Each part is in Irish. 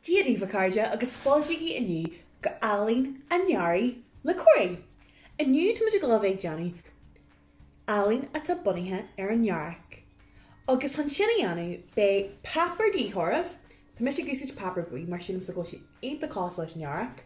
Dia daoibh a chairde agus fáilte inniu go Ealaín an Earraigh le Corey! Inniu tá muid ag dul bheith ag déanamh ealaín atá bunaithe ar an earrach. Agus chun sin a dhéanamh beidh páipéar de dhíth oraibh, tá mise ag úsáid páipéar buí mar sílim go bhfuil sé iontach cosúil leis an earrach,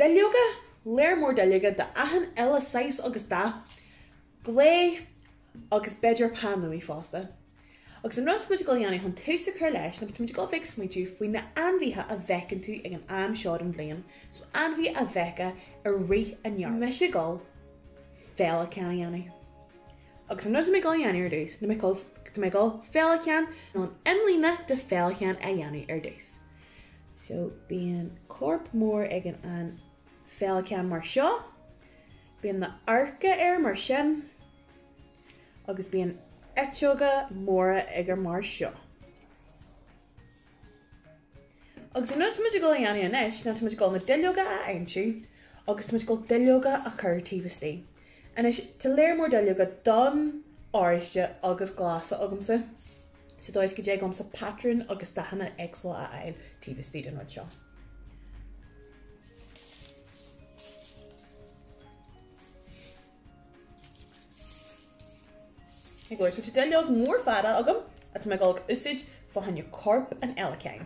duilleoga, lear mór duilleoga de achan uile saghas agus dath, gliú agus b'fhéidir peann luaidhe fosta. Agus an rud atá muid ag dul a dhéanamh chun tús a chur leis ná tá muid ag dul bheith ag smaoitiu faoi na hainmhithe a fheiceann tú ag an am seo den bhliain, so ainmhithe a fheicfeá i rith an earraigh. Tá mise ag dul féileacán a dhéanamh. Agus an rud atá mé ag dul a dhéanamh ar dtús ná mé ag dul, tá mé ag dul féileacán nó an imlíne de féileacán a dhéanamh ar dtús. So bíonn corp mór ag an an Féileacán mar seo, bíonn na hadharca air mar sin agus bíonn eiteoga móra aige mar seo. Agus an rud atá muid ag dul a dhéanamh anois ná tá muid ag dul na duilleoga a aimsiú agus tá muid ag dul duilleoga a chur taobh istigh. Anois, tá lear mór duilleoga donn, oráiste agus glasa agamsa. sa dóigh is go dtig liomsa patrúin agus dathanna éagsúla a fháil taobh istigh den rud seo. Tá duilleog mhór fada agam atá mé ag dul ag úsáid fá choinne corp an fhéileacáin.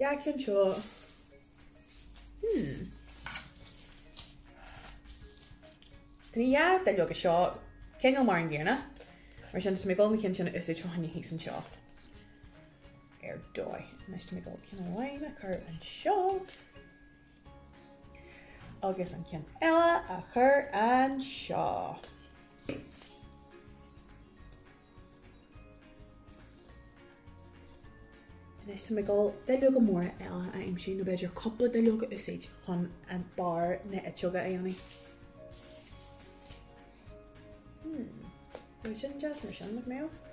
An ceann seo. Hum. Tá na duilleoga seo, cineál mar an gcéanna, mar sin tá mé ag dul na cinn sin a úsáid fá choinne thíos anseo. Ar dóigh. Anois tá mé ag dul ceann amháin a chur anseo. Agus an ceann eile a chur anseo. Anois tá mé ag dul duilleoga móra eile a aimsiú, nó b'fhéidir cúpla duilleog a úsáid chun barr na n-eiteoga a dhéanamh. Hmm. Bheadh sin deas mar sin, nach mbeadh?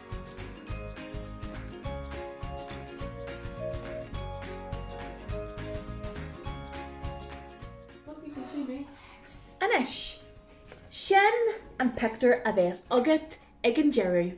Anois, sin an pictiúr a bheas agat ag an deireadh.